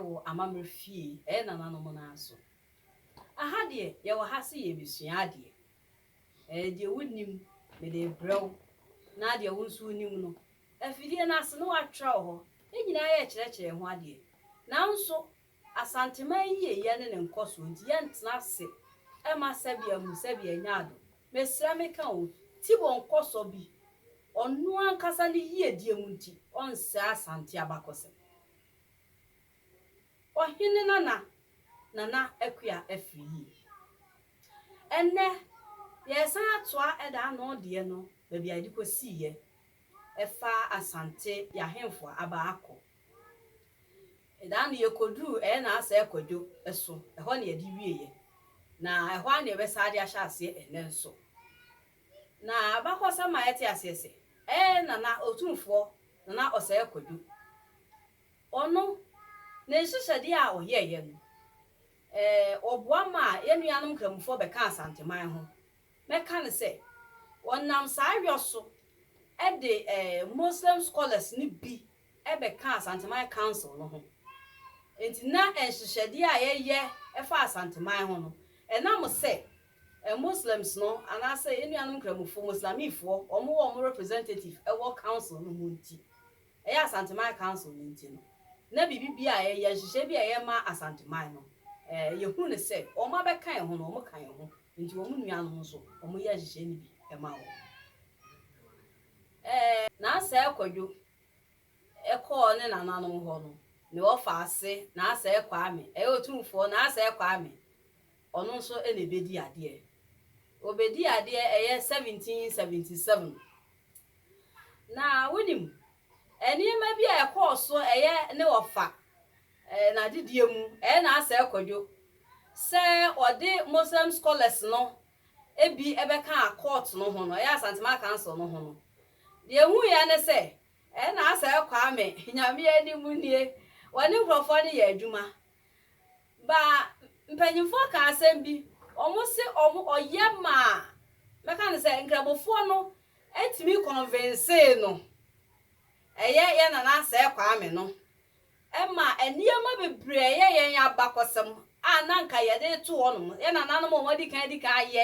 wɔ amammerɛ fie ɛyɛ nananom no ara so. Aha deɛ yɛwɔ ha sɛ yɛrebɛsua adeɛ. Ɛɛ deɛ wonim mede rebrɛ wo na deɛ wo nso wonim no afidie no ase na woatwerɛ wɔ hɔ. Yɛn nyinaa yɛrekyerɛkyerɛ yɛn ho adeɛ. Nanso Asanteman yiyeyɛ ne ne nkɔsoɔ nti yɛntena ase mma sɛbea mu sɛbea nya ado. Mesrɛ meka o, Tibor nkɔsɔ bi ɔno ankasa ne yiedie mu nti ɔnsɛe Asante abakɔsɛm. Ɔhene nana Nana Akua afiri yie. Ɛnnɛ yɛresan atoa ɛda ano deɛ no baabi a yɛde kɔsiiɛ ɛfa Asante yɛahemfoɔ aba akɔ Da no, yekoduu Ɛyɛ N'asɛɛ Kwadwo so, ɛhɔ na yɛde wieeɛ, na ɛhɔ ara na yɛbɛsan de ahyɛ aseɛ ɛnnɛ nso. Na abakɔsɛm ma yɛte aseɛ sɛ, ɛyɛ Nana Otumfoɔ Nana Ɔsɛɛ Kwadwo, ɔno, ne nhyehyɛdeɛ a ɔyɛeɛ no, ɔboa maa yɛn nuanom Nkramofoɔ bɛkaa Asanteman ho. Mɛka no sɛ, ɔnam saa yɔ so de Muslim scholars no bi bɛka Asanteman Council no ho. Enti na nhyehyɛdeɛ a yɛyɛ fa Asanteman ho no, ɛnam sɛ Muslims no anaasɛ yɛn nuanom Nkramofoɔ, Moslamifoɔ, wɔn wɔ wɔn representative wɔ Council no mu nti, ɛyɛ Asanteman Council no nti no, na biribi biara a yɛyɛ, nhyehyɛeɛ biara a yɛyɛ ma Asanteman no, eh, yɛhu no sɛ wɔn abɛka yɛn ho no, wɔka yɛn ho. Enti wɔn nuanom nso, wɔyɛ nhyehyɛeɛ no bi ma wɔn. Ɛɛ, Naasae Kwadwo kɔɔ ne nananom hɔ no, ne wɔfa ase Naasae Kwame, ɛyɛ Otumfoɔ Naasae Kwame, ɔno nso na ɛbɛdi adeɛ. Ɔbɛdii adeɛ ɛyɛ 1777. Na wonim, nneɛma bi a ɛkɔɔ so ɛyɛ ne wɔfa ɛɛ n'adedie mu, ɛyɛ Naasae Kwadwo sɛ ɔde Moslem scholars no bi bɛkaa court no ho no, ɛyɛ Asantema Council no ho no, deɛ yɛhuiɛ ne sɛ, ɛna Asae Kwame, Nyame anim nie, wɔne nkorɔfoɔ no yɛ adwuma. But mpanyinfoɔ kaa asɛm bi, wɔn se wɔn ɔyɛ maa, mɛka no sɛ Nkramofoɔ no tumi convincee no, ɛyɛ yɛn Nana Asae Kwame no, ɛma nneɛma bebree yɛ yɛn abakɔsɛm a na anka yɛde reto hɔnom, yɛn nananom a wɔadi kan adi kan ayɛ,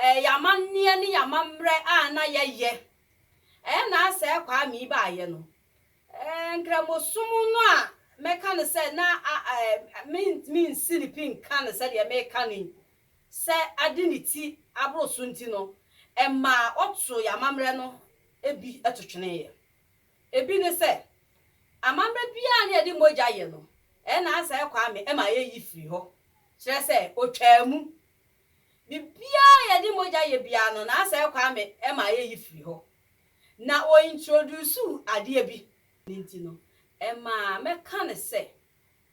ɛɛ, yɛn amanneɛ ne yɛn amammerɛ a na yɛyɛ. Ɛyɛ na asɛ Kwame yi baeɛ no, ɛɛ, Nkramosom no a mɛka no sɛ na a, ɛɛ, mentumi nsi ne pi nka no sɛdeɛ meka no yi, sɛ ade ne ti aboro so nti no, ɛmaa ɔtoo yɛn amammerɛ no bi to tweneeɛ. Ebi ne sɛ, amammerɛ biara ne yɛde mogya yɛ no, ɛna Asae Kwame ma yɛyi firi hɔ, kyerɛ sɛ ɔtwaa mu. Biribiara a yɛde mogya yɛ biara no, na Asae Kwame ma yɛyi firi hɔ. Na ɔintroduusuu adeɛ bi, ne nti no, ɛmaa mɛka no sɛ,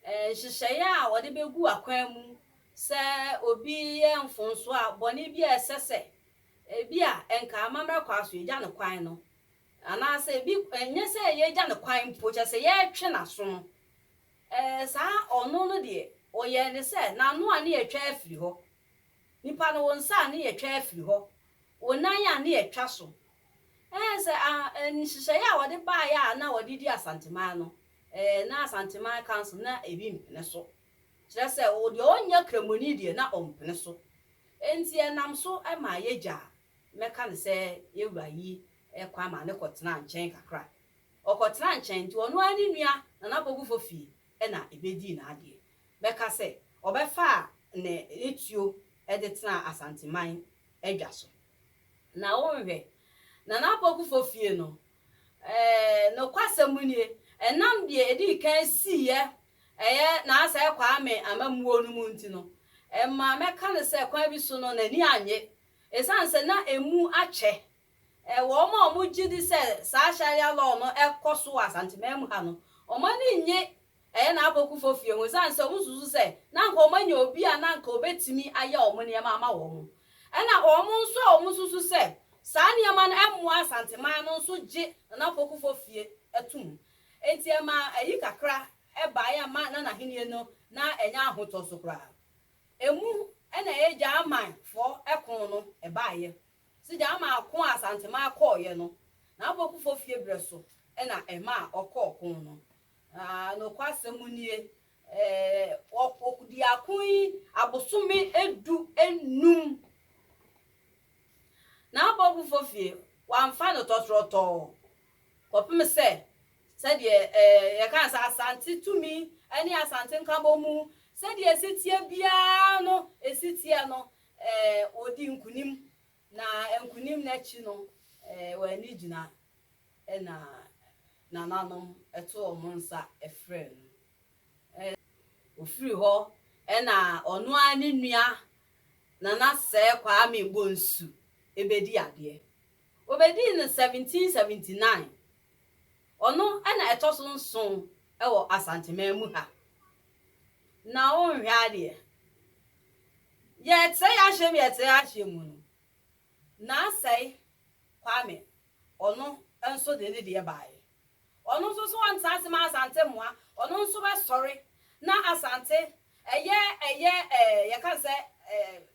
nhyehyɛeɛ a wɔde bɛgu akwan mu sɛ obi yɛ mfomsoɔ a, bɔne bi a ɛsɛ sɛ, ebia nka amammerɛ kwan so yɛgya no kwan no, Anaasɛ ebi nyɛ sɛ yɛagya no kwan mpo, kyerɛ sɛ yɛretwe n'aso no, ɛɛ, saa ɔno no deɛ, ɔyɛɛ no sɛ n'ano a ne yɛatwa afiri hɔ, nipa no, wo nsa a ne yɛatwa afiri hɔ, wo nan a ne yɛatwa so. Ɛɛ, sɛ nhyehyɛeɛ a wɔde baeɛ a na wɔde di Asanteman no, ɛɛ, na Asanteman Council na ebi mpene so. Kyerɛ sɛ, deɛ ɔnyɛ Kramoni deɛ, na ɔmpene so. Enti ɛnam so maa yɛgyaa Mɛka no sɛ yɛn wura yi kwan maa no kɔtenaa nkyɛn kakra. Ɔkɔtenaa nkyɛn nti, ɔno ara ne nua na n'abɔgufo fie na ebedii n'adeɛ. Mɛka sɛ ɔbɛfaa ne ne tuo de tenaa Asanteman adwa so. Na wonhwɛ, na n'abɔgufo fie no, eh, nokwasɛm mu nie, ɛnam deɛ edii kan siiɛ, ɛyɛ Naasae Kwame amammuo no mu nti no, ɛma mɛka no sɛ kwan bi so no, n'ani annye Esiane sɛ na emu akyɛ wɔ wɔn a wɔgye di sɛ saa Sharia law no kɔ so wɔ Asanteman mu ha no, wɔn ani nnye ɛyɛ na apokufo fie ho esiane sɛ wosusu sɛ na anka wɔanya obi a na anka obetumi ayɛ wɔn nneɛma ama wɔn. Ɛnna wɔn nso a wɔsusu sɛ saa nneɛma no mmoa Asanteman no nso gye Nana Apokufo fie tom. Enti ɛmaa ayi kakra bae a ɛma Nana Ahenni no na ɛnyɛ ahotɔ so koraa. Emu na ɛyɛ German foɔ ɛko no ɛbaeɛ. Sɛ German ako a Asanteman kɔeɛ no, n'aboakufoɔ fie berɛ so na ɛmaa ɔkɔɔ ɔko no. Na nokwasɛm nie, ɔdii ako yi abosome du nnum. N'aboakufoɔ fie, wɔamfa no tɔtorɔtɔɔ kɔpem sɛ Sɛdeɛ yɛkaa sɛ Asante tumi ne Asante Nkabom mu sɛdeɛ ɛsi teɛ biara no si teɛ no, wɔdii nkonim, na nkonim no akyi no, wɔn ani gyina na nananom to wɔn nsa frɛ no. Ɔfiri hɔ na ɔno ara ne nua Nana Sɛɛ Kwame Bonsu bɛdii adeɛ. Wɔbɛdii no 1779 Ɔno na ɛtɔ so nson wɔ Asanteman mu ha. Na wonhwɛ adeɛ, yɛɛtrɛ yɛahyɛ mu yɛɛtrɛ yɛahyɛ mu no, Nansei Kwame, ɔno nso de ne deɛ baeɛ. Ɔno nso so ɔntra ase ma Asante mmoa, ɔno nso bɛsɔre na Asante, ɛyɛ ɛyɛ ɛɛ yɛka no sɛ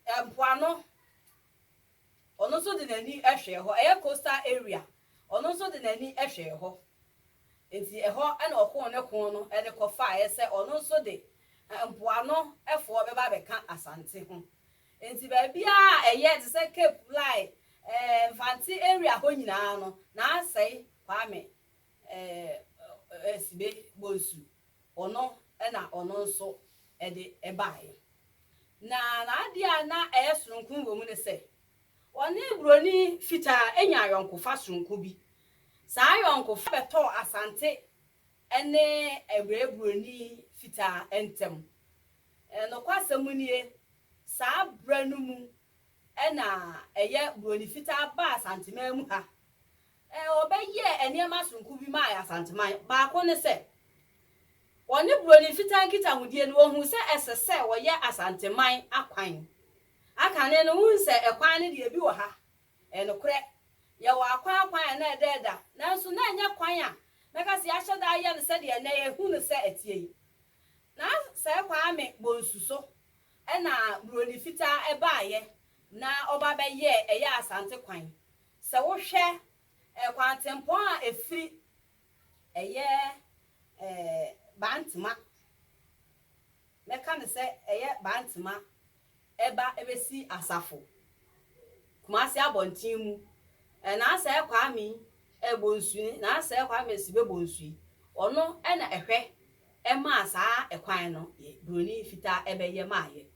ɛɛ mpoano, Ɔno nso de n'ani hwɛɛ hɔ. Ɛyɛ coastal area. Ɔno nso de n'ani hwɛɛ hɔ. Enti ɛhɔ na ɔkoo ne ko no de kɔfaeɛ sɛ ɔno nso de mpoano foɔ bɛba abɛka Asante ho. Enti baabiara a ɛyɛ te sɛ Cape, Lai, ɛɛ Mfantse area hɔ nyinaa no, na asɛe Kwame Esibe Bonsu, ɔno na ɔno nso de baeɛ. Na n'adeɛ a na ɛyɛ sononko wɔ mu ne sɛ, ɔne buroni fitaa anya ayɔnkofa sononko bi. Saa ayɔnkofa bɛtɔɔ Asante ne ɛberɛ buroni fitaa ntam. Nokwasɛm nie, saa berɛ no mu na ɛyɛ buroni fitaa baa Asanteman mu ha. Wɔbɛyɛɛ nneɛma soronko bi maa Asanteman. Baako ne sɛ, wɔne Buroni Fitaa nkitahodie no, wɔhuu sɛ ɛsɛ sɛ wɔyɛ Asanteman akwan. Aka no no, wohu sɛ ɛkwan no deɛ ebi wɔ ha. Ɛyɛ nokorɛ, yɛwɔ akwan akwan a na ɛda ɛda, nanso na ɛnyɛ kwan a mɛka sɛ yɛahyɛ da ayɛ no sɛdeɛ ɛnnɛ yɛhu no sɛ ɛteɛ yi. Na saa Kwame Bonsu so na Buroni Fitaa baeɛ na ɔba bɛyɛɛ ɛyɛ Asante kwan. Sɛ wohwɛ kwantempɔn a ɛfiri ɛyɛ Bantema, mɛka no sɛ ɛyɛ Bantema ɛba ɛbɛsi Asafo, Kumasi abɔnten mu, Nansɛɛ Kwame Bonsu, Nansɛɛ Kwame Sibe Bonsu yi, ɔno na ɛhwɛ maa saa ɛkwan no, Buroni fitaa ɛbɛyɛ maayɛ.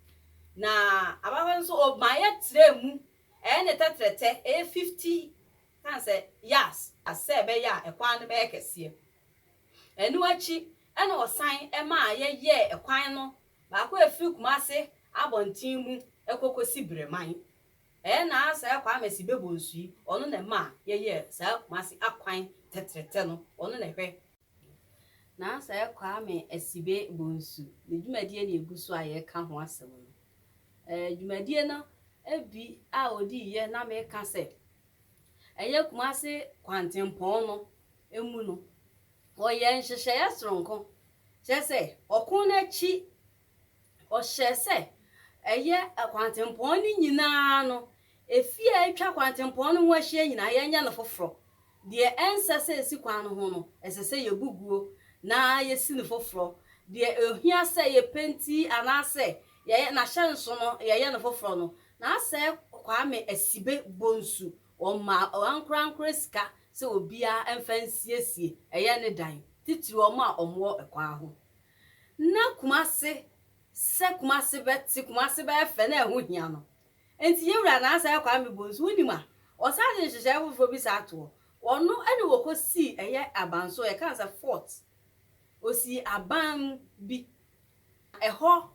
Na ababaawa no nso ɔmaayɛ trɛɛ mu Ɛyɛ ne tɛtrɛtɛ, ɛyɛ fifty times a yas sɛ ɛbɛyɛ a ɛkwan no bɛyɛ kɛseɛ. Ɛno akyi na wɔsan maa yɛyɛɛ ɛkwan no baako a ɛfiri Kumase abɔnten mu kɔ kɔsi Breman. Ɛyɛ Naa Sir Kwame Sibebo Nsuyi, ɔno na ɛmaa yɛyɛɛ saa Kumase akwan tɛtrɛtɛ no, ɔno na ɛhwɛ. Nansɛ Kwame Asibe Bonsu ne dwumadie na ɛgu so a yɛreka ho asɛm no. Dwumadie no bi a ɔdiiɛ na meka sɛ ɛyɛ Kumase kwantempɔn no mu no, ɔyɛɛ nhyehyɛeɛ sononko, kyerɛ sɛ ɔko no akyi Ɔhyɛɛ sɛ ɛyɛ kwantempɔn no nyina ara no, afie a atwa kwantempɔn no ho ahyia nyina ara, yɛnyɛ no foforɔ. Deɛ ɛnsɛ sɛ ɛsi kwan no ho no, ɛsɛ sɛ yɛbu guo na yɛsi no foforɔ. Deɛ ɛhia sɛ yɛpenti anaasɛ yɛyɛ n'ahyɛnso no, yɛyɛ no foforɔ no, n'asɛɛ Kwame Asibe Bonsu, wɔmaa wɔn ankorankora sika sɛ obiara mfa nsiesie ɛyɛ ne dan, titire wɔn a wɔwɔ kwan ho. na Kumasi sɛ Kumasi bɛte, Kumasi bɛyɛ fɛ na ɛho hia no. Enti yɛn wura Naasae Kwame Bonsu, wonim a, ɔsan de nhyehyɛe foforɔ bi san toɔ. Ɔno ne wɔkɔsii ɛyɛ abanso, yɛka no sɛ fort. Ɔsii aban bi. Ɛhɔ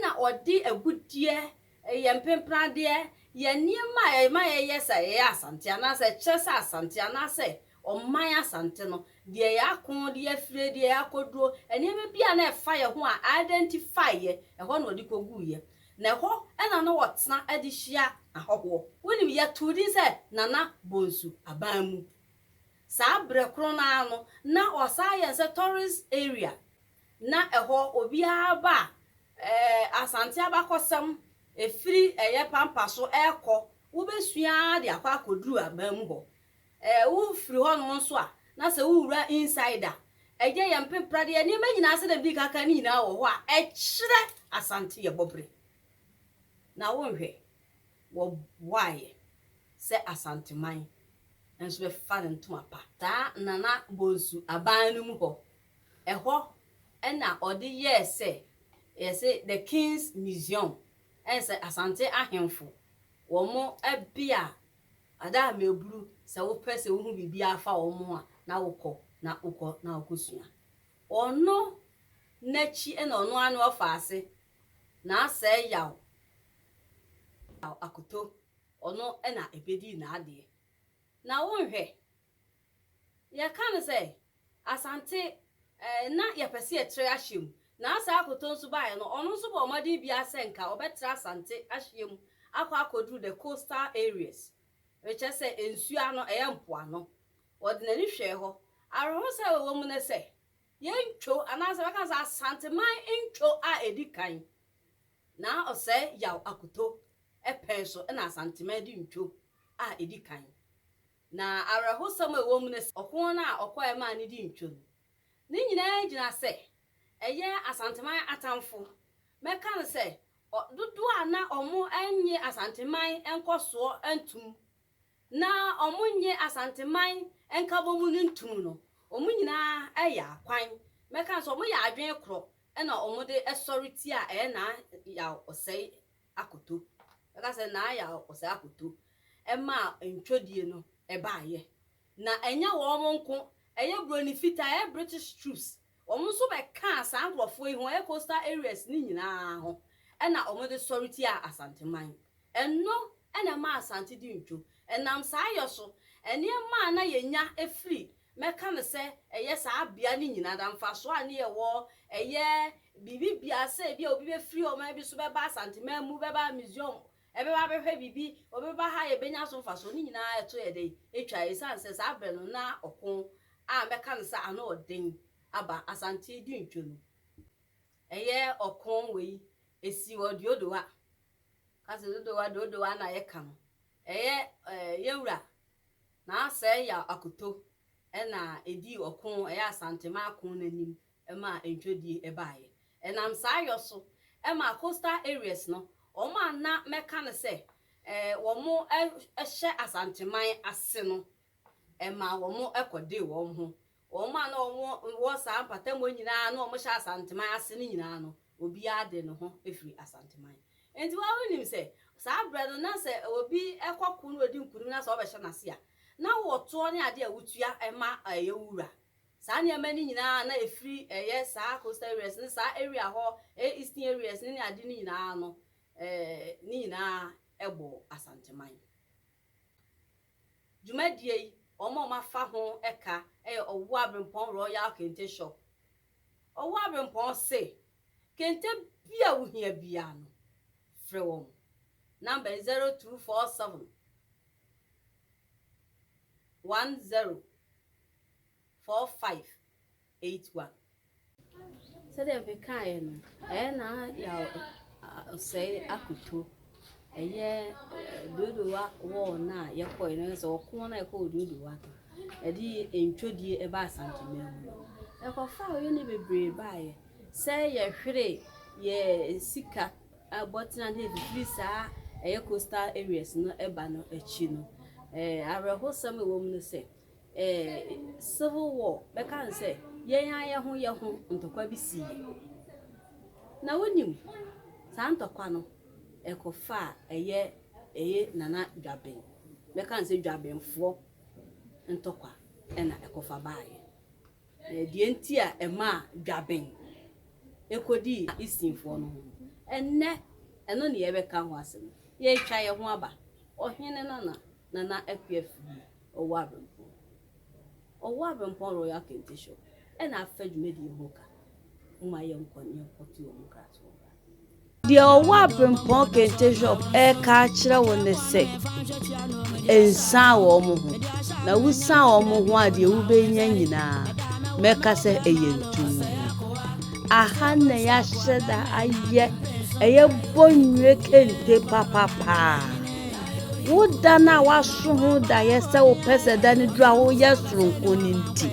na ɔde agudeɛ, yɛn mpempradeɛ, yɛn nneɛma a ɛma yɛyɛ sɛ yɛyɛ Asante anaasɛ ɛkyerɛ sɛ Asante anaasɛ Ɔman Asante no, deɛ yɛako, deɛ yɛafire, deɛ yɛakɔduro, nneɛma bi a na ɛfa yɛn ho a identify yɛ, ɛhɔ na ɔde kɔguiɛ. Na ɛhɔ na na ɔtena de hyia ahɔhoɔ. Wonim, yɛtoo din sɛ Nana Bonsu Aban mu. Saa berɛ korɔ no ara no, na wɔasan ayɛ no sɛ tourist area. Na ɛhɔ, obiara ba a, ɛɛ, Asante abakɔsɛm, ɛfiri ɛyɛ pampa so ɛrekɔ, wobɛsua ara de akɔ akɔduru aban mu hɔ. Eh, wo firi hɔ nom nso a, na sɛ wo wura inside a, ɛyɛ yɛn mpempradeɛ, nneɛma nyinaa sɛdeɛ mede ka kan no nyinaa wɔ hɔ a ɛkyerɛ Asante yɛbɔ bere. Na wo nhwɛ, wɔ boaeɛ sɛ Asanteman nso bɛ fa no ntoma pa. Saa Nana Bonsu aban no mu hɔ, ɛhɔ na ɔde yɛɛ sɛ yɛ se the King's Museum, ɛnsɛ Asante ahemfo wɔn bea Ada a meburu sɛ wopɛ sɛ wuhu biribi afa wɔn ho a, na wokɔ, na wokɔ, na wokosua. Ɔno n'akyi na ɔno ara ne ɔfa ase, na asɛe yaw akoto, ɔno na ebedi n'adeɛ. Na wonhwɛ, Yɛka no sɛ Asante eh, na yɛpɛ sɛ yɛtrɛ ahyɛ mu. Na Asɛ Akoto nso baeɛ no, ɔno nso bɔɔ mmɔden biara sɛ nka ɔbɛtra Asante ahyɛ mu akɔ akɔduru the coastal areas, rekyɛ sɛ nsuo ano, ɛyɛ mpoano. Ɔde n'ani hwɛɛ hɔ. Awerɛhosɛm a ɛwɔ mu ne sɛ, yɛn ntwo, anaasɛ bɛka no sɛ Asanteman ntwo a ɛdi kan na ɔsɛe Yaw Akoto pɛn so na Asanteman di ntwo a ɛdi kan. Na awerɛhosɛm a ɛwɔ mu ne sɛ, ɔko no a ɔkɔeɛ maa ne di ntwam. Ne nyinaa gyina sɛ, ɛyɛ Asanteman atamfo. Mɛka no sɛ, ɔ, dodoɔ a na wɔnnye Asanteman nkɔsoɔ ntom, na wɔnnye Asanteman nkabɔmu no ntom no, wɔn nyinaa yaa kwan. Mɛka no sɛ, wɔyɛɛ adwene korɔ na wɔde sɔre tiaa ɛyɛ naa yaw ɔsɛe akoto. Bɛka sɛ na ayɛ ɔsɛe akoto ma ntwodie no baeɛ. Na ɛnyɛ wɔn nko, ɛyɛ buroni fitaa, ɛyɛ British troops, wɔn nso bɛkaa saa nkorɔfoɔ yi ho, ɛyɛ coastal areas no nyinaa ho, ɛna wɔde sɔre tiaa Asanteman. Ɛno na ɛmaa Asante dii ntwo. Ɛnam saa yɛ so, nneɛma a na yɛnya firi Mɛka no sɛ ɛyɛ saa bea no nyinaa da. Mfasoɔ a ne yɛwɔ, ɛyɛ biribi biara, sɛ ebi a obi bɛfiri ɔman bi so bɛba Asanteman mu, bɛba Museum, ɛbɛba abɛhwɛ biribi, ɔbɛba ha a yɛbɛnya so mfasoɔ, ne nyinaa ɛto yɛ dɛn? Ɛtwa, ɛsiane sɛ saa berɛ no na ɔko a mɛka no sɛ ano ɔden aba, Asante di ntwa mu. Ɛyɛ ɔko wei, ɛsii wɔ Deodowa, Kwasi Dodowa, Deodowa na yɛka no, Ɛyɛ yɛ wura Naasɛe ya Akoto na ɛdii ɔko ɛyɛ Asanteman ko no anim ma ntwodie baeɛ. Ɛnam saa yɔ so maa coastal areas no, wɔn a na mɛka no sɛ wɔn hyɛ Asanteman ase no, ɛmaa wɔn kɔdee wɔn ho Wɔn a na wɔwɔ saa mpatamu yi nyinaa a na wɔhyɛ Asanteman ase no nyinaa no, obiara de ne ho firi Asanteman. Enti wo ara wunim sɛ saa berɛ no na sɛ obi kɔ ko na ɔdi nkonim na sɛ wɔbɛhyɛ no ase a, na wɔ toɔ ne adeɛ a wotua ma ɛyɛ wo wura. Saa nneɛma no nyinaa a na ɛfiri ɛyɛ saa coastal areas ne saa area hɔ, ɛyɛ eastern areas ne ne adeɛ no nyinaa no, ne nyinaa bɔɔ Asanteman. Dwumadie yi wɔn a wɔafa ho ɛka ɛyɛ Ɔwoo Abrempɔn Royal Kente Shop. Ɔwoo Abrempɔn se kente bi a wo hia biara no frɛ wɔn. Number yɛ 0247 10. four five eight one. Sɛdeɛ mekaaɛ no, ɛyɛ na yaw ɔsɛe akoto ɛyɛ Dodowa wɔɔ no a yɛkɔɛ no, sɛ ɔko no a yɛkɔ wɔ Dodowa no, ɛde ntwodie ɛba Asanteman mu no, yɛkɔfaa ɔyɛne bebree baeɛ sɛ yɛhwere yɛ sika bɔtena no ɛfifiri saa ɛyɛ coastal areas no ɛba no akyi no. Awerɛhosɛm a ɛwɔ mu ne sɛ, civil war bɛka no sɛ yɛn ara yɛn ho yɛn ho ntɔkwa bi siiɛ. Na wonim saa ntɔkwa no ɛkɔfaa ɛyɛ ɛyɛ Nana Dwaben bɛka no sɛ Dwabenfoɔ ntɔkwa ɛna ɛkɔfa baeɛ. Na deɛ nti a ɛmaa Dwaben ɛkɔdii Easternfoɔ no ho no, ɛnnɛ ɛno ne yɛbɛka ho asɛm. Yɛretwa yɛn ho aba, Ɔhene Nana Nana Akua firi Ɔwɔ Abempɔn, Ɔwɔ Abempɔn Royal Kente Shop na afa dwumadie yi ho ka. Momma yɛnkɔ na yɛnkɔto wɔn nkratoɔ mmra. Deɛ Ɔwɔ Abempɔn Kente Shop reka akyerɛ wo ne sɛ, nsan wɔn ho, na wosan wɔn ho a deɛ wobɛnya nyinaa mɛka sɛ ɛyɛ ntumm. Aha na yɛahyɛ da ayɛ ɛyɛ bɔnnwire kente papapaa. Wo da no a woaso ho daeɛ sɛ wopɛ sɛ da no duru a woyɛ soronko no nti,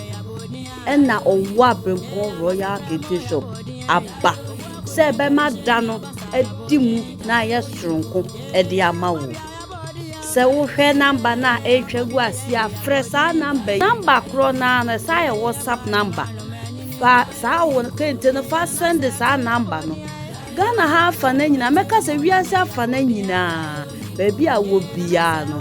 ɛna ɔwɔ Abrempɔn Royal Kente Shop aba sɛ ɛbɛma da no adi mu na ayɛ soronko de ama wo. Sɛ wohwɛ number no a ɛretwa gu ase a, frɛ saa number yi. Number korɔ no ara no, ɛsan yɛ WhatsApp number. Fa saa wo kente no fa send saa number no. Ghana ha afa no nyinaa, mɛka sɛ wiase afa no nyinaa, baabi a wɔ biara no,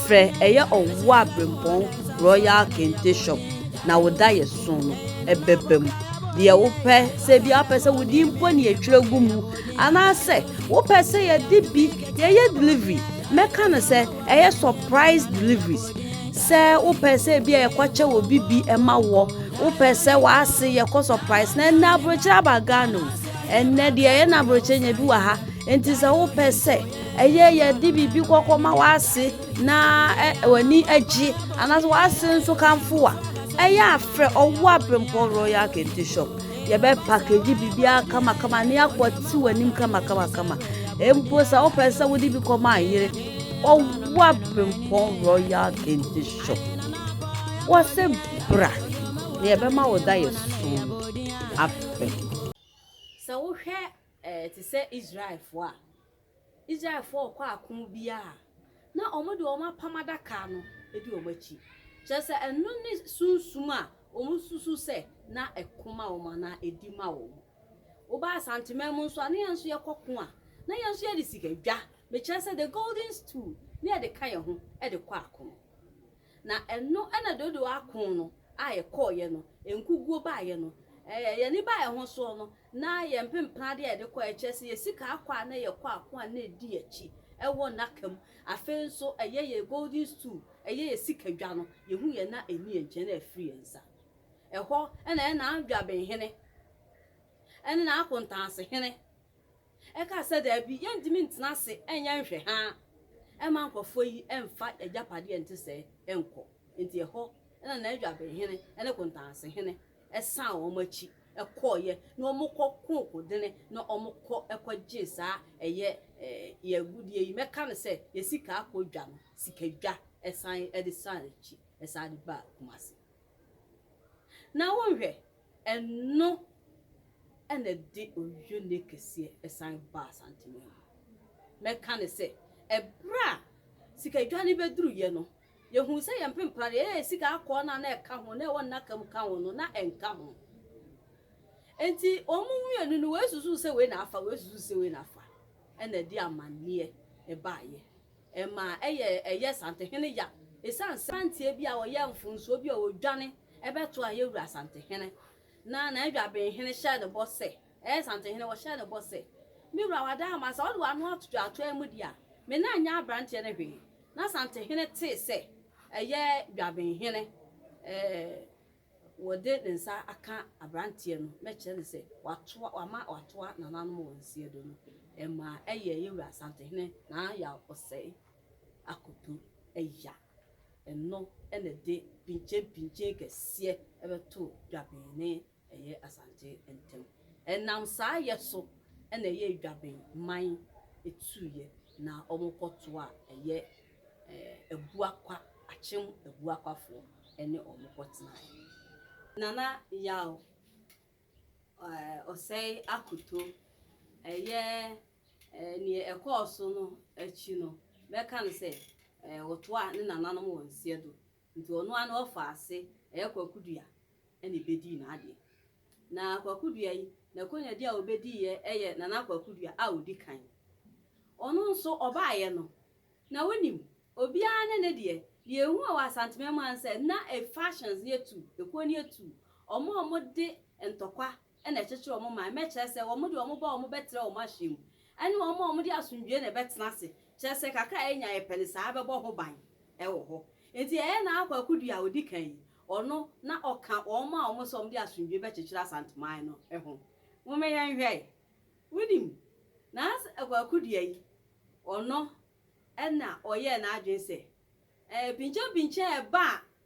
frɛ ɛyɛ ɔwɔ abirempɔn Royal Kente Shop na wo da yɛ so no ɛbɛba mu. Deɛ wopɛ sɛ bi a wopɛ sɛ wo din mpo na yɛtwerɛ gu mu anaasɛ wopɛ sɛ yɛde bi Yɛyɛ delivery, mɛka no sɛ ɛyɛ surprise deliveries. Sɛ wopɛ sɛ ebi a yɛkɔkyɛ wɔ bibi ɛma wɔ, wopɛ sɛ w'ase yɛkɔ surprise na ɛnna aburokyerɛ aba Ghana o. Ɛnna deɛ ɛyɛ na aburokyerɛ nya bi wɔ ha. Nti sɛ wopɛ sɛ ɛyɛ yɛde biribi kɔkɔ ma w'ase na w'ani agye anaasɛ w'ase nso kamfo a, ɛyɛ afrɛ ɔwɔ abirempɔ royal kente shop. Yɛbɛ package biribiara kamakama na yɛakɔte w'anim kamakamakama. Mpo sɛ wopɛ sɛ wode bi kɔma ayere, ɔwa Prempɔn Royal Kente Shop. Wɔse bra na yɛbɛma wo da yɛ so afɛ. Sɛ wohwɛ eh, te sɛ Israelfoɔ a, Israelfoɔ rekɔ ako biara a, na wɔde wɔn apam adaka no di wɔn akyi. Kyerɛ sɛ, ɛno ne sunsum a wɔsusu sɛ na ɛko ma wɔn anaa ɛdi ma wɔn. Woba Asanteman mu nso a, na yɛn nso yɛkɔ ko a, na yɛn nso yɛde sika dwa, mekyerɛ sɛ, the golden stool, na yɛde ka yɛn ho de kɔ ako. Na ɛno na Dodo ako no a yɛkɔeɛ no, nkuguo baeɛ no, ɛɛ, yɛn ani baeɛ ho soɔ no, na yɛn mpempena adeɛ a yɛde kɔeɛ, ɛkyerɛ sɛ yɛn sika akɔ a na yɛkɔ ako a na ɛdi akyi wɔ nnaka mu. Afei nso ɛyɛ yɛn golden stool, ɛyɛ yɛn sika dwa no, yɛhuiɛ na ɛnni yɛn nkyɛn na afiri yɛn nsa. Ɛhɔ na ɛyɛ Nandwabenhene ne N'akontansehene. Ɛkaa sɛ, Dabi, yɛrentumi ntena ase nyɛ nhwɛhaa mma nkurɔfoɔ yi mfa yɛn agyapadeɛ a ɛnte sɛɛ nkɔ. Enti ɛhɔ na Nadwabenhene ne Kontansehene san wɔn akyi kɔeɛ, na wɔkɔ koo Kodene, na wɔkɔ kɔgyee saa ɛyɛ yɛn agudeɛ yi, mɛka no sɛ yɛn sikaakɔdwa no, sikadwa, san de san akyi san de baa Kumasi. Na wonhwɛ, Ɛno na ɛde oyunie kɛseɛ san baa Asanteman mu. Mɛka ne sɛ, ɛberɛ a sikadwane bɛduruiɛ no, yɛhuu sɛ yɛn mpempra deɛ ɛyɛ sika akɔɔ no a na ɛka ho, na ɛwɔ nnaka mu ka ho no, na ɛnka ho. Enti wɔn mmienu no, wei susuu sɛ wei na afa, wei susuu sɛ wei na afa, ɛna ɛde amanneɛ baaeɛ. Ɛma ɛyɛ ɛyɛ Santehene ya esiane sɛ aberanteɛ bi a ɔyɛ mfomsoɔ bi a ɔdwane bɛto ayɛ wura Santehene. Na N'adwabenhene hyɛɛ no bɔ sɛ, ɛyɛ Santehene, ɔhyɛɛ no bɔ sɛ, Me wura Wadaama, sɛ wode w'ano ato dwaatoa mu deɛ a, me nan nyɛ aberanteɛ no hwee. Na Santehene tee sɛ ɛyɛ Dwabenhene, ɛɛ, wɔde ne nsa aka aberanteɛ no na kyerɛ no sɛ watoa wama watoa nananom wɔn siedo no, ɛmaa ɛyɛɛ yɛn wura Asantehene Naa Yaw Osei Akoto ya. Ɛno na ɛde pinkyenpinkyen kɛseɛ bɛtoo Dwaben ne ɛyɛ Asante ntam. Ɛnam saa yɛ so na ɛyɛ Dwaben man tuiɛ na wɔkɔtoaa ɛyɛ Abuakwa, Akyem Abuakwafoɔ ne wɔn kɔtenaeɛ. Nana Yaw Osei Akoto, ɛyɛ deɛ ɛkɔɔ so no akyi no, bɛka no sɛ wɔtoaa ne nananom wɔn nseɛdo Nti ɔno ara ne ɔfaa ase ɛyɛ Kwaku Dua na ebedii n'adeɛ. Na Kwaku Dua yi, n'akonnyadi a obediiɛ yɛ Nana Kwaku Dua a odi kan. Ɔno nso ɔbaeɛ no, na wonim, obiara ne ne deɛ. Deɛ ehu a wɔ Asanteman mu ara ne sɛ, na ɛ fashions no yɛ tu, ekuo no yɛ tu. Wɔn a wɔde ntɔkwa na ɛkyekyere wɔn man, mɛkyerɛ sɛ wɔn de wɔn ba a wɔbɛtra wɔn ahyeɛ mu, ne wɔn a wɔde asomdwoeɛ na ɛbɛtena ase, kyerɛ sɛ kakra a yɛnya a yɛpɛ no saa bɛbɔ ho ban wɔ hɔ. Enti yɛyɛ na Akwa Kudu a ɔdi kan yi, ɔno na ɔka wɔn a wɔn sɛ wɔde asomdwoeɛ bɛkyekyere Asanteman no ho. Momma yɛnhwɛ. Wonim, na Akwa Kudu yi, ɔno na ɔyɛɛ n'adwene sɛ Pinkyapinkyɛ a ɛba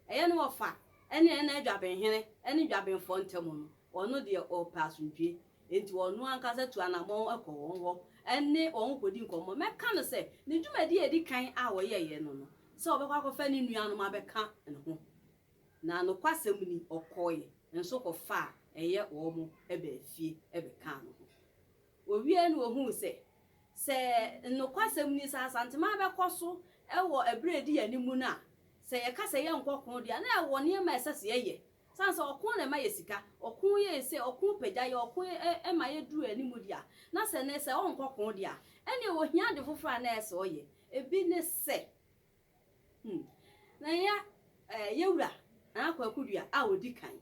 a ɛyɛ ne wɔfa ne ɛna adwabenhene ne dwabenfoɔ ntam no, ɔno deɛ ɔpɛ asomdwoeɛ, enti ɔno ankasa tu anammɔn kɔ wɔn hɔ ne wɔn kɔdi nkɔmmɔ. Mɛka no sɛ, ne dwumadie a ɛdi kan a ɔyɛeɛ no no, sɛ ɔbɛkɔ akɔfa ne nuanom abɛka ne ho. Na nokwasɛm ni, ɔkɔeɛ nso kɔfaa ɛyɛ wɔn baa fie bɛkaa ne ho. Ɔwieeɛ no ɔhuu sɛ Sɛ nokwasɛm ni, sɛ Asantema bɛkɔ so wɔ bere a edi yɛn anim no a, sɛ yɛka sɛ yɛrenkɔ ɔko de a, na yɛwɔ nneɛma a ɛsɛ sɛ yɛyɛ. Esiane sɛ ɔko na ɛma yɛ sika, ɔko yɛ yɛn sei, ɔko pagya yɛn, ɔko ma yedu yɛn anim de a, na sɛ nnɛ sɛ ɔrenkɔ ɔko de a, ɛnneɛ ohia ade foforo a na ɛyɛ sɛ ɔyɛ. Ebi ne sɛ, hmm, na ɛnyɛ yɛn wura, Nana Kwaku Duah, a ɔdi kan.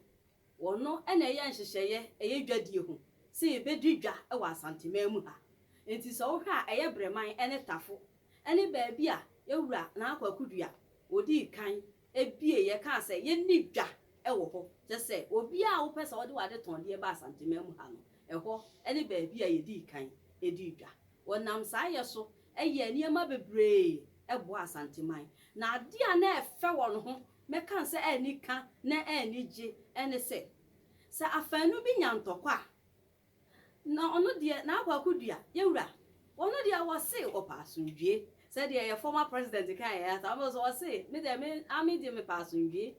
Wɔno na ɛyɛ nhyehyɛeɛ ɛyɛ dwadie ho sɛ yɛbɛdi dwa wɔ Asanteman mu ha. Enti sɛ wohwɛ a ɛyɛ Breman ne Tafo ne baabi a Yawura Nana Kwaku Dua ɔdii kan bieeɛ kaa sɛ yɛnni dwa wɔ hɔ. Kyerɛ sɛ obiara a wopɛ sɛ wode w'adetɔndeɛ ba Asanteman mu ha no, ɛhɔ ne baabi a yɛdii kan dii dwa. Wɔnam saa yɛ so yɛɛ nneɛma bebree boaa Asanteman. Na adeɛ a na ɛfɛ wɔ ne ho mɛka sɛ anika na anigye ne sɛ, sɛ afaanu bi nya ntɔkwa a, na ɔno deɛ n'akwakodua yɛ wura. Ɔno deɛ wɔse ɔpɛ asomdwoeɛ, sɛdeɛ yɛ former president kaeɛ ara saa, ɔbɛka sɛ ɔse me deɛ me Army deɛ mepɛ asomdwoeɛ.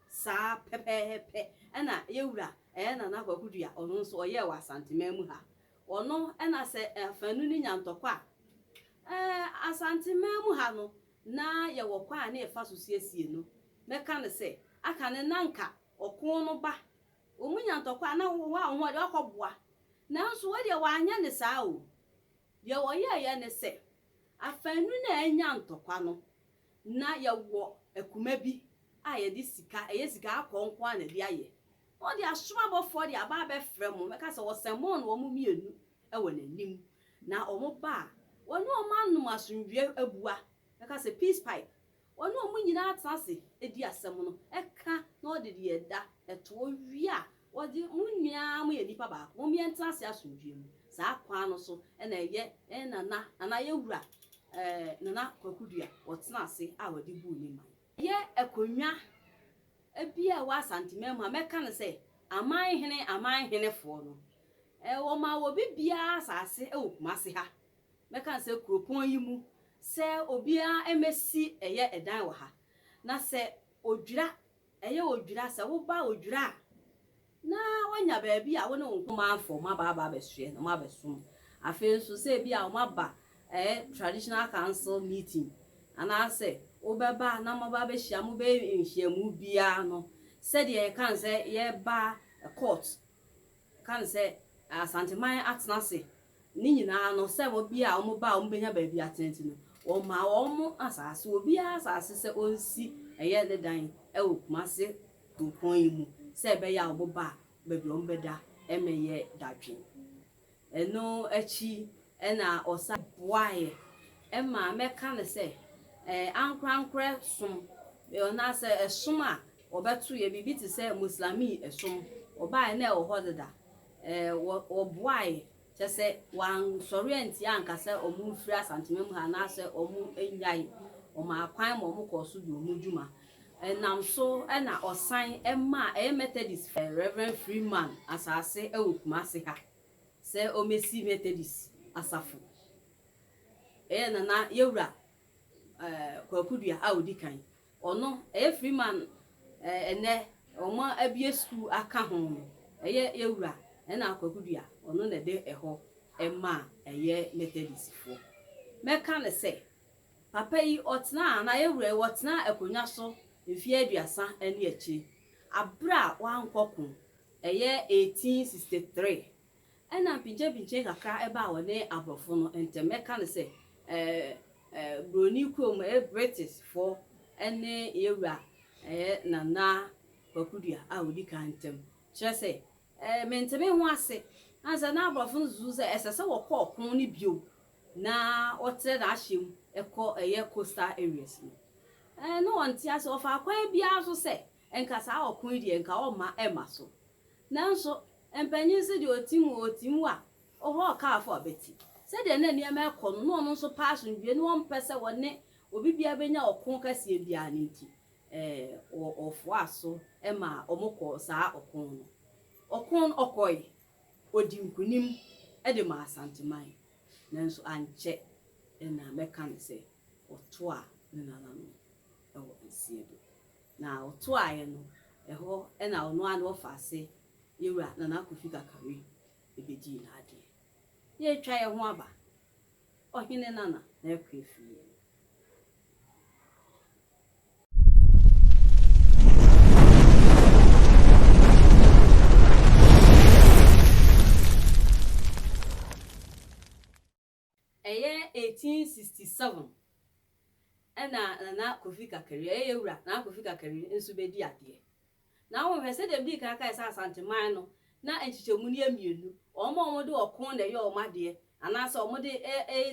Saa pɛpɛɛpɛ na yɛ wura ɛɛ Nana Akwakodua ɔno nso ɔyɛɛ wɔ Asanteman mu ha. Ɔno na sɛ afaanu no nya ntɔkwa a, ɛɛ Asanteman mu ha no na yɛwɔ kwan a na yɛfa so siesie no. Mɛka no sɛ, aka no na anka ɔko no ba. Wɔn nya ntɔkwa a, na wɔn a wɔn ho ɔden akɔboa. Nanso wei deɛ wɔanyɛ no saa o. Deɛ wɔyɛeɛ ne sɛ, afanu no a anya ntɔkwa no, na yɛwɔ akuma bi a yɛde sika, ɛyɛ sika akɔɔ nko ara na ɛde ayɛ. Na ɔde asoro abɔfoɔ de aba abɛfrɛ mo, mɛka sɛ ɔsɛmɔɔ no wɔn mmienu, wɔ n'anim, na wɔba a, wɔne wɔn anom asomdwoeɛ abua, bɛka sɛ, Peace pipe. Wɔne wɔn nyinaa tena ase di asɛm no, ɛka na wɔde deɛ ɛda to, wɔwie a, wɔde, Mo nyinaa moyɛ nnipa baako, mom yɛntena ase asomdwoeɛ mu. Saa kwan no so na ɛyɛ yɛn nana anaa yɛn wura, ɛɛ Nana Kwaku Duah, wɔtena ase a wɔde buu ne man. Yɛ akonnwa bi a ɛwɔ Asanteman mu a mɛka no sɛ Aman Hene Aman Henefoɔ no wɔmaa obi biara asase wɔ Kumase ha mɛka no sɛ kuropɔn yi mu sɛ obiara mmɛsi ɛyɛ dan wɔ ha na sɛ Odwira ɛyɛ Odwira sɛ woba Odwira a na woanya baabi a wo ne wo nkumaafo mmabaa aba abɛsoɛ na moabɛsom. Afei nso, sɛ ebia wɔaba ɛɛ traditional council meeting anaasɛ wobɛba na moaba abɛhyia, mobɛyɛ nhyiamu biara no, sɛdeɛ yɛka no sɛ yɛba court, yɛka no sɛ Asanteman atena ase Ne nyinaa no, sɛ wɔbea a wɔba a wɔbɛnya baabi atena nti no, wɔmaa wɔn asase, obiara asase sɛ ɔnsi ɛyɛ ne dan wɔ Kumase kuropɔn yi mu sɛ ɛbɛyɛ a wɔn ba a baabi a wɔbɛda mmɛyɛ dadwen. Ɛno akyi na ɔsan boaeɛ ma mɛka no sɛ ankorankorɛ som anaasɛ ɛsom a wɔbɛtoeɛ, biribi te sɛ Muslamii som, ɔbaeɛ na ɛwɔ hɔ deda. Ɛɛ, wɔboae, kyerɛ sɛ, wɔansɔre antia anka sɛ wɔmfiri Asanteman mu ha anaasɛ wɔnnyae. Wɔmaa kwan ma wɔkɔɔ so dii wɔn dwuma. Ɛnam so na wɔsan maa ɛyɛ Methodist fie. Rev. Freeman asase wɔ Kumasi ha sɛ wɔmmɛsi Methodist asafo. Ɛyɛ na na Yɛwura, ɛɛ, Kwaku Duah a ɔdi kan. Ɔno, ɛyɛ Freeman ɛnɛ ɔmo abue sukuu aka ho no, ɛyɛ yɛwura ɛna Kwaku Dua ɔno na ɛde ɛhɔ ɛma ɛyɛ Methodist foɔ. Mɛka no sɛ, papa yi ɔtenaa anaa yɛwura yi ɔtenaa akonwa so mfeɛ aduasa ɛne akyire, abere a wankɔ ko, ɛyɛ 1863 Ɛna mpigyapigye kakra baa wɔne aborɔfo no ntam, mɛka no sɛ buroni kurom, ɛyɛ British foɔ ne yɛ wura ɛyɛ Nana Kwaku Dua a ɔdi kan ntam. Kyerɛ sɛ menteme ho ase, ɛne sɛ na aborɔfo no susu sɛ ɛsɛ sɛ wɔkɔ ɔko no bio na wɔtrɛ na ahyɛ mu kɔ ɛyɛ coastal areas no. Na wɔnte ase, wɔfaa kwan biara so sɛ Nka saa ɔko yi deɛ nka ɔmma ɛmma so. Nanso mpanyin se deɛ ɔtim o ɔtim wa, ɔhɔ ɔkaafoɔ ɔbɛte. Sɛdeɛ na nneɛma ɛkɔ no na ɔno nso pɛ asomdwoeɛ na ɔmpɛ sɛ ɔne obi biara bɛnya ɔko kɛseɛ biara no nti ɛɛ ɔfoaa so maa wɔkɔɔ saa ɔko no. Ɔko no ɔkɔe, ɔdii nkunim de maa Asanteman nanso ankyɛ na mɛka no sɛ ɔtoaa ne nananom wɔ nsiedɔ. Na ɔtoaeɛ no, ɛhɔ na ɔno ara ne wɔfaase yɛwura Nana Kofi Kakari bɛdii n'adeɛ. Yɛretwa yɛn ho aba, Ɔhene Nana na ɛrekɔ afiri yɛn. Ɛyɛ 1867 ɛna Nana Kofi Kakari, ɛyɛ yɛn wura Nana Kofi Kakari nso bɛdi adeɛ. Na wohwɛ sɛdeɛ medii kan kae sɛ Asanteman no na nkyekyɛmu no yɛ mmienu, wɔn a wɔde ɔko na ɛyɛ wɔn adeɛ anaasɛ wɔde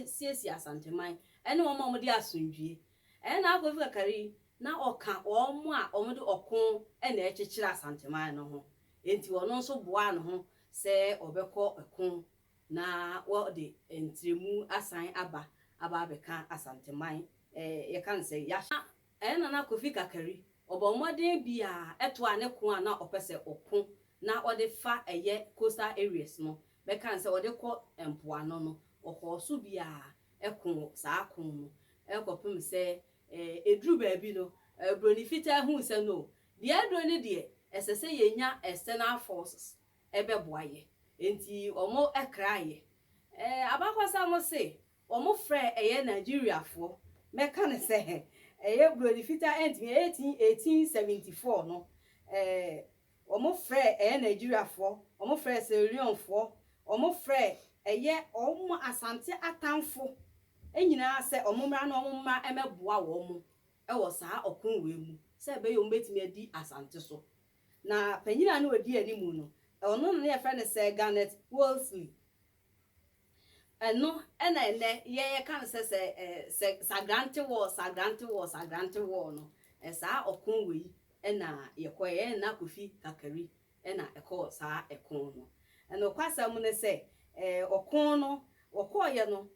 siesie Asanteman ɛne wɔn a wɔde asomdwie. Ɛyɛ Nana Kofi Kakari na ɔka wɔn a wɔde ɔko na ɛkyekyere Asanteman no ho, enti ɔno nso boaa ne ho sɛ ɔbɛkɔ ɛko na wɔde ntrɛmu asan aba aba abɛka Asanteman yɛka no sɛ yɛahyɛ. Ɛyɛ Nana Kofi Kakari, ɔbɔ mmɔden biaa ɛtoaa ne ko a na ɔpɛ sɛ ɔko na ɔde fa ɛyɛ coastal areas no, bɛka no sɛ ɔde kɔ mpoano no, ɔkɔɔ so biaa ɛko saa ko no ɛkɔpem sɛ ɛduru baabi no Broni Fitaa huu sɛ no, deɛ aduro no deɛ ɛsɛ sɛ yɛnya external forces bɛboa yɛ nti ɔmo kraa yɛ abakɔsa mo se ɔmo frɛ ɛyɛ Nigeria foɔ mɛka no sɛ ɛyɛ broni fitaa ɛntumi eighteen eighteen seventy four no ɔmo frɛ ɛyɛ Nigeria foɔ ɔmo frɛ Sierra Leone foɔ ɔmo frɛ ɛyɛ ɔmo Asante atanfo nyinaa sɛ ɔmo mmra na ɔmo mma mɛboa ɔmo wɔ saa ɔko wei mu sɛ ɛbɛyɛ ɔmo bɛtumi adi Asante so Na panyin a na odi anim no, ɔno na na wɔfrɛ no Sir Garnet Wolseley. Ɛno na ɛnnɛ yɛka no sɛ Sagrante War, Sagrante War, Sagrante War no. Saa ɔko wei na yɛkɔeɛ. Yɛn na Kofi Kakari na ɛkɔɔ saa ɛko no. Nokwasɛm ne sɛ, ɔko no wɔkɔeɛ no,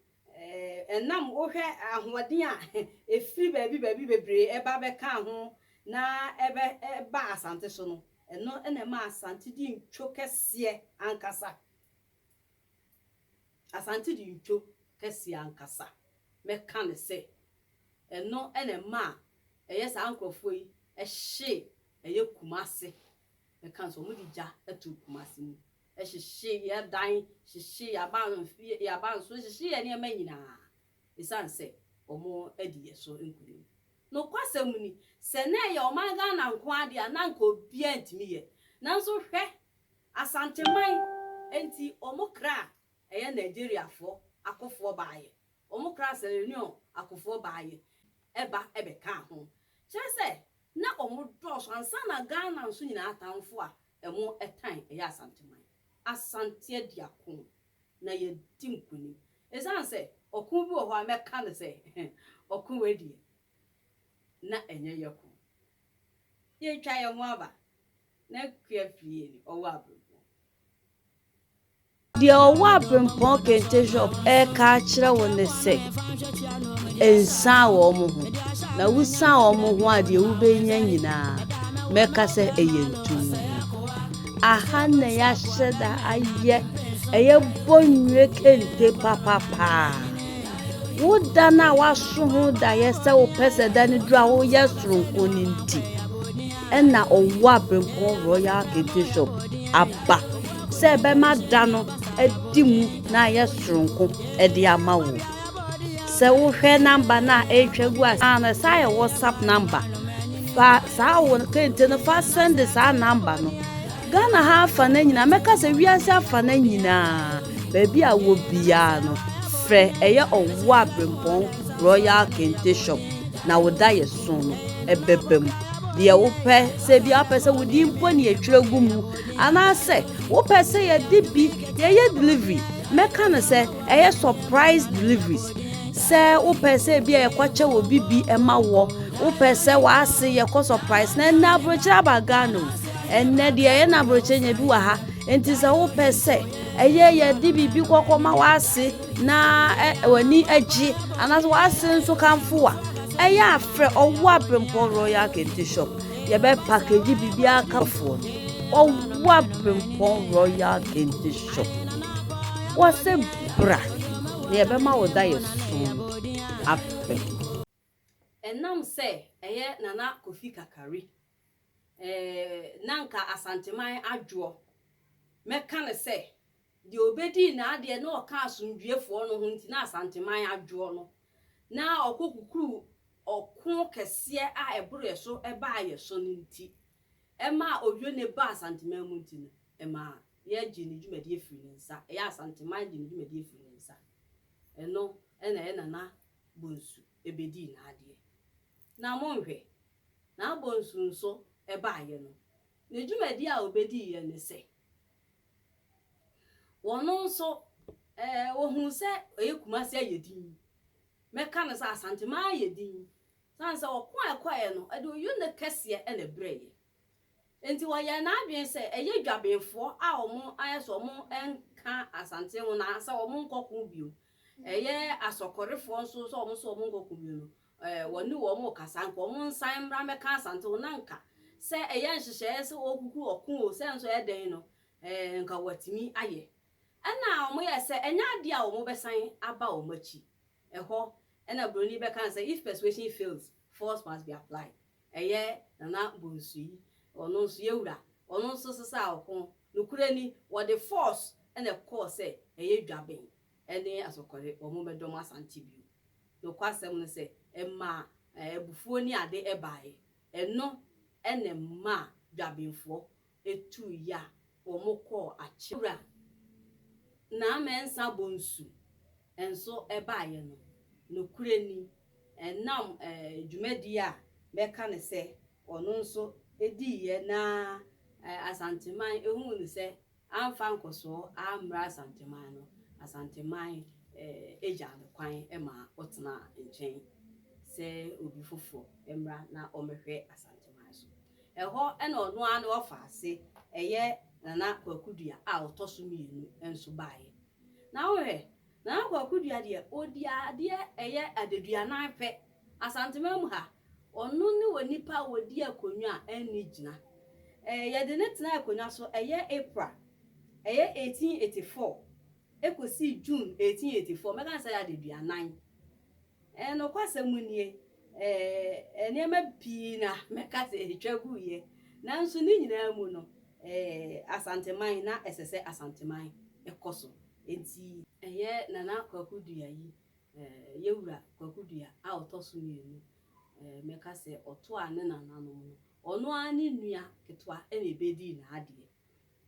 Ɛnam wohwɛ ahoɔden a ɛfiri baabi baabi bebree ɛba bɛkaa ho na ɛba Asante so no, ɛno na ɛma Asante di ntwo kɛseɛ ankasa. Asante di ntwo kɛseɛ ankasa. Mɛka no sɛ, ɛno na ɛma ɛyɛ saa nkorɔfoɔ yi hye ɛyɛ Kumase. Mɛka no sɛ wɔde gya to Kumase mu. Ɛhyehyee yɛn dan, hyehyee yɛn abansoro, yɛn abansoro, hyehyee yɛn nneɛma nyinaa esiane sɛ wɔadi yɛn so nkonim. Nokwasɛm ni, sɛ na ɛyɛ ɔman Ghana nko ara de a, na anka obiara ntumi yɛ. Nanso hwɛ Asanteman, enti wɔkraa ɛyɛ Nigeriafoɔ akofoɔ baeɛ, wɔkraa Sierra Leone akofoɔ baeɛ ba bɛkaa ho. Kyerɛ sɛ, na wɔdɔɔso. Ansa na Ghana nso nyinaa atamfo a Ɛmo ɛtan ɛyɛ Asanteman. Asante adi ako na yɛadi nkunim. Ɛsiane sɛ ɔko bi wɔ hɔ a mɛka no sɛ ɔko wei deɛ na ɛnyɛ yɛ ko. Yɛretwa yɛn ho aba na akua fie ni ɔwɔ abrɛboɔ. Deɛ ɔwɔ abempɔn kente shop reka akyerɛ wo ne sɛ nsan wɔn ho na wosan wɔn ho a deɛ wobɛnya nyinaa mɛka sɛ ɛyɛ ntom aha na yɛahyɛ da ayɛ ɛyɛ bɔ nnwe kente papapaa wo da no a woaso ho daeɛ sɛ wopɛ sɛ da no duru a woyɛ soronko no nti Ɛna ɔwɔ Abrempɔn Royal Archbishop aba sɛ ɛbɛma da no adi mu na ayɛ soronko de ama wo. Sɛ wohwɛ namba no a ɛretwa gu ase na saa yɛ WhatsApp namba. Fa saa wo kente no fa sɛnde saa namba no. Ghana ha afa no nyinaa, mɛka sɛ wiase afa no nyinaa, baabi a wɔ biara no, frɛ ɛyɛ ɔwɔ Abrempɔn Royal Kente Shop na wo da yɛ so no ɛbɛba mu. deɛ wopɛ sɛ bi apɛ sɛ wode mpo ne yɛtwerɛ gu mu anaasɛ wopɛ sɛ yɛde bi yɛyɛ delivery mɛka no sɛ ɛyɛ surprise deliveries sɛ wopɛ sɛ bi a yɛkɔkyɛ wɔ bi bi ɛma wɔ wopɛ sɛ w'ase yɛkɔ surprise na ɛnɛ aburokyerɛ aba ghana o ɛnɛ deɛ ɛyɛ na aburokyerɛ nya bi wɔ ha nti sɛ wopɛ sɛ ɛyɛ yɛde biribi kɔkɔ ma w'ase na w'ani agye anaasɛ w'ase nso kamfo wa ɛyɛ a frɛ ɔwɔ abirempɔ royal kente shop yɛbɛ package biribiara kamfoɔ no ɔwɔ abirempɔ royal kente shop wɔse bra na yɛbɛma wo da yɛ so afɛ Ɛnam sɛ ɛyɛ Nana Kofi Kakari, eh, na anka Asanteman adwoɔ, mɛka no sɛ, deɛ ɔbɛdii n'adeɛ na ɔka asomdwoeɛfoɔ no ho nti na Asanteman adwoɔ no, na ɔkɔ kukuruu ɔko kɛseɛ a ɛboro yɛ so baa yɛ so no nti, ɛmaa ɔdwo ne baa Asanteman mu nti no, ɛmaa yɛgyee ne dwumadie firii ne nsa, ɛyɛ Asanteman gyee ne dwumadie firii ne nsa. Ɛno na ɛyɛ Nana bonsu bedii n'adeɛ. Na monhwɛ, n'abonsu nso baaeɛ no, ne dwumadie a ɔbediiɛ ne sɛ, wɔn nso wɔhuu sɛ ɔyɛ Kumasi ayɛ din, mɛka no sɛ Asanteman ayɛ din, sane sɛ ɔko a ɛkɔeɛ no, ɔde Oyo nne kɛseɛ na ɛbrɛeɛ. Enti ɔyɛɛ n'adwene sɛ ɛyɛ dwabenfoɔ a wɔayɛ sɛ wɔnka Asante ho na sɛ wɔnkɔ ko bio. Ɛyɛ Asɔkɔrefoɔ nso sɛ wɔn nso wɔnkɔ ko bio no, wɔne wɔn rekasa, anka wɔnsan mmra mmɛka Asante ho na anka sɛ ɛyɛ nhyehyɛeɛ sɛ wɔkuku ɔko o, sɛ nso ɛyɛ dɛn no, anka wɔatumi ayɛ. Ɛnna wɔyɛɛ sɛ ɛnyɛ adeɛ a wɔbɛsan aba wɔn akyi. Ɛhɔ na buroni bɛkaa sɛ, If persuasion fails, force must be applied. Ɛyɛ Nana Bonsu yi, ɔno nso yɛ wura, ɔno nso sesaa ɔko. Nokorɛ ni, wɔde force na ɛkɔɔ sɛ ɛyɛ Dwaben ne Asokore wɔn mmɛdɔ mo Asante bio. Nokwasɛm no sɛ, ɛmaa abufuo ne ade baeɛ. Ɛno na ɛmaa Dwabenfoɔ etu ya wɔkɔɔ akyem. Wura Naa Mensah Bonsu nso baeɛ no, nokorɛ ni, ɛnam dwumadie a mɛka no sɛ ɔno nso diiɛ na Asanteman huu no sɛ amfa nkɔsoɔ ammrɛ Asanteman no, Asanteman gyaa no kwan maa ɔtenaa nkyɛn sɛ obi foforɔ mmra na ɔmmɛhwɛ Asanteman so. Ɛhɔ na ɔno ara ne ɔfaase, ɛyɛ Nana Kwaku Dua a ɔtɔ so mmienu, nso baeɛ. Na wohwɛ, Nana Kwaku Dua deɛ, ɔdi adeɛ ɛyɛ adaduanan pɛ. Asanteman mu ha, ɔno ne onipa a ɔdi akonnwa a ɛnni gyina. Eh, yɛde no tenaa akonnwa so ɛyɛ April, ɛyɛ 1884, ɛkɔsii June 1884, mɛka no sɛ ɛyɛ adaduanan. Nokwasɛm nie, nneɛma pii na mɛka sɛ ɛtwa guiɛ, nanso ne nyinaa mu no, Asanteman na ɛsɛ sɛ Asanteman kɔ so. Enti. Ɛyɛ Nana Kwaku Duayi, yɛn wura Kwaku Dua a ɔtɔ so mmienu. Mɛka sɛ ɔtoaa ne nananom no. Ɔno ara ne nua ketewa na ɛbɛdii n'adeɛ.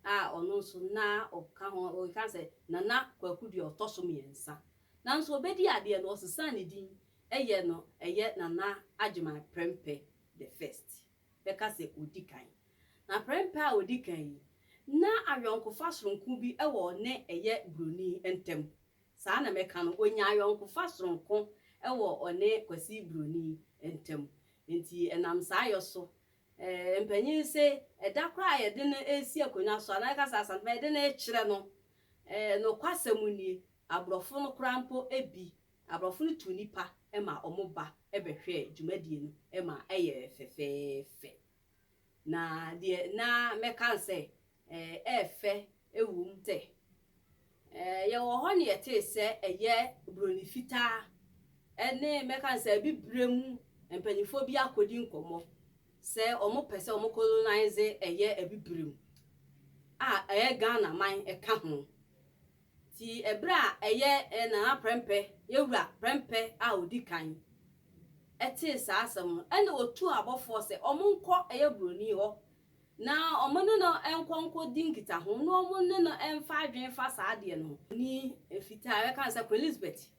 a ɔno nso na ɔka ho, ɔkeka sɛ Nana Kwaku deɛ ɔtɔ so mmiɛnsa. Nanso ɔbɛdi adeɛ no, ɔsesaa ne din yɛ no ɛyɛ Nana Agyeman Prɛmpɛ the First, bɛka sɛ ɔdi kan. Na Prɛmpɛ a ɔdi kan yi, na ayɔnkofa sononko bi wɔ ɔne ɛyɛ Buroni ntam. Saa na mɛka no, ɔnyaa ayɔnkofa sononko wɔ ɔne Kwasi Buroni ntam. Nti ɛnam saa yɔ so Mpanyin se, ɛda koro a yɛde no resi akonnwa so, anaa yɛka sɛ Asantuma a yɛde no rekyerɛ no, nokwasɛm nie, aborɔfo no koraa mpo bi, aborɔfo no tu nnipa ma wɔba bɛhwɛ dwumadie no ma ɛyɛ fɛfɛɛfɛ. Na deɛ na mɛka ne sɛ, Ɛyɛ fɛ ɛwom sɛ yɛwɔ hɔ na yɛtee sɛ ɛyɛ Buroni fitaa ne mɛka no sɛ abibire mu mpanimfoɔ bi akɔdi nkɔmmɔ sɛ wɔpɛ sɛ wɔn colonize ɛyɛ abibire mu a ɛyɛ Ghana man ka ho. Nti ɛberɛ a ɛyɛ Nana Prɛmpɛ, Yɛwura Prɛmpɛ a ɔdi kan ɛtee saa asɛm no ɛna ɔtuu abɔfoɔ sɛ wɔnkɔ ɛyɛ Buroni hɔ Na wɔne no nkɔ nkɔdi nkitaho na wɔne no mfa adwene mfa saa adeɛ no ho. Ni mfitaa bɛka no sɛ Queen Elizabeth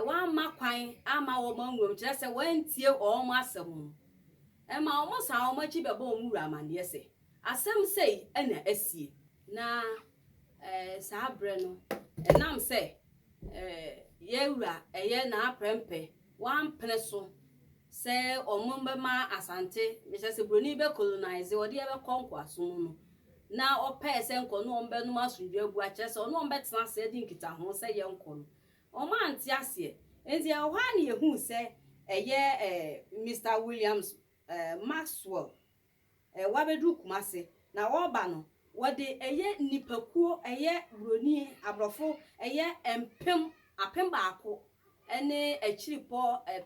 wamma kwan amma wɔn anwuram, kyerɛ sɛ wantie wɔn asɛm no, ɛma wɔsan wɔn akyi bɛbɔ wɔn wura amanneɛ sɛ asɛm sei na asie. Na saa berɛ no, ɛnam sɛ yɛn wura yɛ n'aprɛmpɛ, wampene so. Sɛ ɔmom bɛma Asante, mehyɛ sɛ broni bɛ colonise ɔde yɛ bɛkɔ nkoaso mu no, na ɔpɛɛ sɛ nka ɔne wɔn bɛnom asomdwoe abu akyerɛ sɛ ɔne wɔn bɛtena ase adi nkitahoo sɛ yɛnkɔ no, wɔn ante aseɛ. Enti ɛwɔ hɔ ara na yɛhuu sɛ ɛyɛ eh, Mister Williams eh, Maxwell. Wɔabɛduru Kumase, na wɔreba no, wɔde ɛyɛ nnipakuo, ɛyɛ Buroni, Aborɔfo, ɛyɛ mpem, apem baako ne akyirepɔ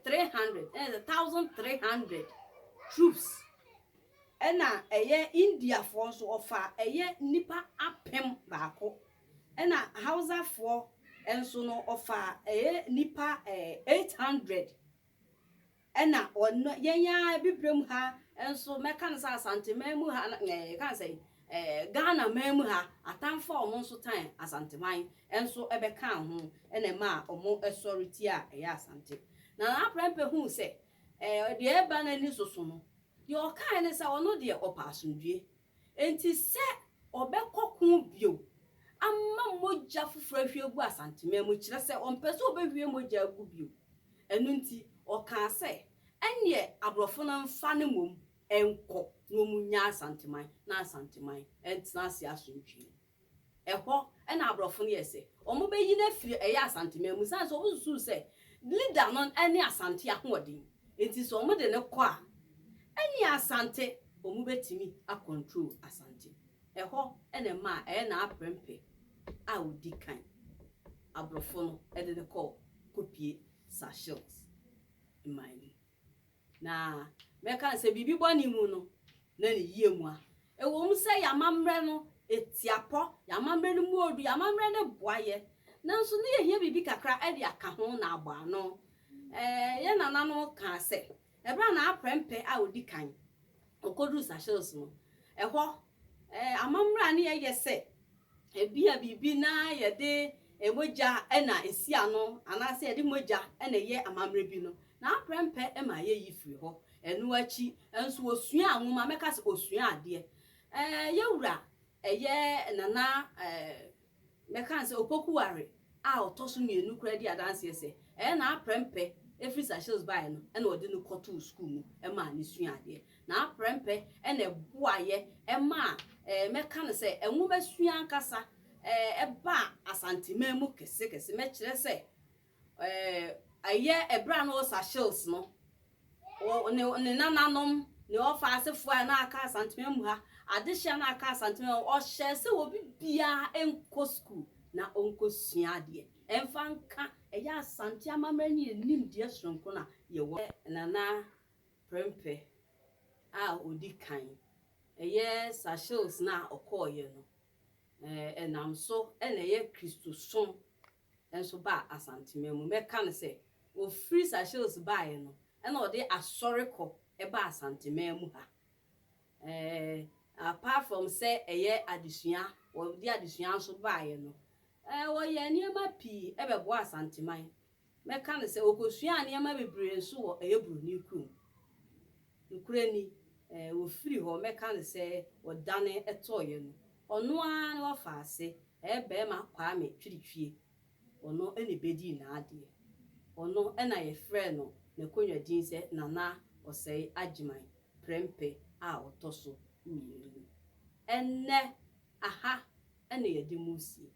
three hundred, that is a thousand three hundred troops. Ɛna ɛyɛ Indiafoɔ nso, wɔfa ɛyɛ nnipa apem baako. Ɛna Hausafoɔ nso no, wɔfa ɛyɛ nnipa eight hundred Ɛna ɔno, yɛn ara abibirem ha nso, mɛka no sɛ Asanteman mu ha, na eh, yɛka no sɛ eh, Ghanaman mu ha, atanfo a wɔn nso tan Asanteman nso bɛkaa ho na ɛmaa wɔn sɔre tia a ɛyɛ Asante. Na Nana Prempeh huu sɛ eh, deɛ ɛreba n'ani so so no, deɛ ɔkaeɛ ne sɛ ɔno deɛ ɔpɛ asomdwoeɛ. Enti sɛ ɔbɛkɔ ko bio ama mogya foforo ahwie agu Asanteman mu, kyerɛ sɛ ɔmpɛ sɛ ɔbɛhwie mogya agu bio. Ɛno nti, ɔkaa sɛ, ɛnneɛ aborɔfo no mfa no mmom nkɔ na wɔnnya Asanteman na Asanteman ntena ase asomdwoeɛ mu. Ɛhɔ na aborɔfo no yɛɛ sɛ wɔbɛyi no afiri ɛyɛ Asanteman mu sane sɛ wɔsusuu sɛ leader no ne Asante ahoɔden nti sɛ wɔde no kɔ a ɛneɛ Asante wɔbɛtumi a control Asante. Ɛhɔ na ɛmaa ɛyɛ Naaprempɛ a ɔdi kan aborɔfo no de no kɔɔ kɔpie Sir Shields mman no mu. Na mɛka sɛ biribi bɔne mu no, na ne yie mua. Ɛwɔ mu sɛ yɛn amammerɛ no, ɛtia pɔ, yɛn amammerɛ no mu ɔɔdu, yɛn amammerɛ no boa yɛn, nanso na yɛhia biribi kakra de aka ho na abɔ ano. Ɛɛ, yɛn nananom kaa sɛ, ɛberɛ a n'aprɛmpɛ a ɔdi kan ɔkɔduruu Seychelles no, ɛhɔ, ɛɛ, amammerɛ a na yɛyɛ sɛ Ebia biribi na yɛde mogya na esi ano anaasɛ yɛde mogya na ɛyɛ amammerɛ bi no, na amprɛmpɛ ɛma yeyi firi hɔ. Ɛno akyi nso osuaa nwoma, mɛka sɛ osuaa adeɛ. Ɛɛ, yɛn wura, ɛyɛ Nana, ɛɛ, mɛka no sɛ Opokuware a ɔtɔ so mmienu koraa di adanseɛ sɛ, ɛyɛ na amprɛmpɛ ɛfiri Seychelles baeɛ no na ɔde no kɔtoo sukuu mu maa no suaa adeɛ. N'aprɛmpɛ na ɛboaeɛ maa, mɛka no sɛ, nwomasua ankasa baa Asanteman mu kesekese. Mɛkyerɛ sɛ, ɛyɛ berɛ a na ɔwɔ Seychelles no, ne ne nananom, ne ɔfa asefoɔ a na aka Asanteman mu ha, adehyeɛ a na aka Asanteman mu ha, ɔhyɛɛ sɛ obi biara nkɔ sukuu na ɔnkɔsua adeɛ, ɛmfa nka ɛyɛ Asante amammerɛ ne yɛn nimdeɛ sononko no a yɛwɔ. Nana Prempeh a odi kan, ɛyɛ Sarcelles no a ɔkɔeɛ no, ɛnam so na ɛyɛ Kristosom nso baa Asanteman mu. Mɛka no sɛ, ɔfiri Sarcelles baeɛ no na ɔde asɔrekɔ baa Asanteman mu ha. Apart from sɛ ɛyɛ adesua, wɔde adesua nso baeɛ no, wɔyɛɛ nneɛma pii bɛboaa Asanteman Mɛka no sɛ okosuaa nneɛma bebree nso wɔ ɛyɛ Buroni kurom. Nokorɛ ni, ɛɛ, ofiri hɔ, mɛka no sɛ ɔdane tɔɔeɛ no, ɔno ara ne ɔfaa ase, ɛɛ, barima Kwame Twirtwie, ɔno na ɛbɛdii n'adeɛ. Ɔno na yɛfrɛɛ no n'akonwa din sɛ Nana Ɔsɛe Agyeman, prɛmpɛ a ɔtɔ so mmienu no. Ɛnnɛ, Aha na yɛde mu resie.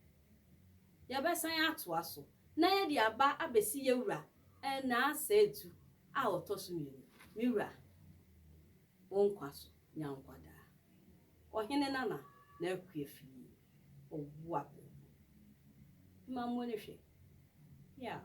Yɛbɛsan atoa so na yɛde aba abɛsi yɛn wura nnaasɛetu a ɔtɔ so mmienu, Me wura, wo nkwa so nya nkwa daa. Ɔhene Nana na akue fii ɔboapo mu. Mma mo ani hwɛ. Yaaw.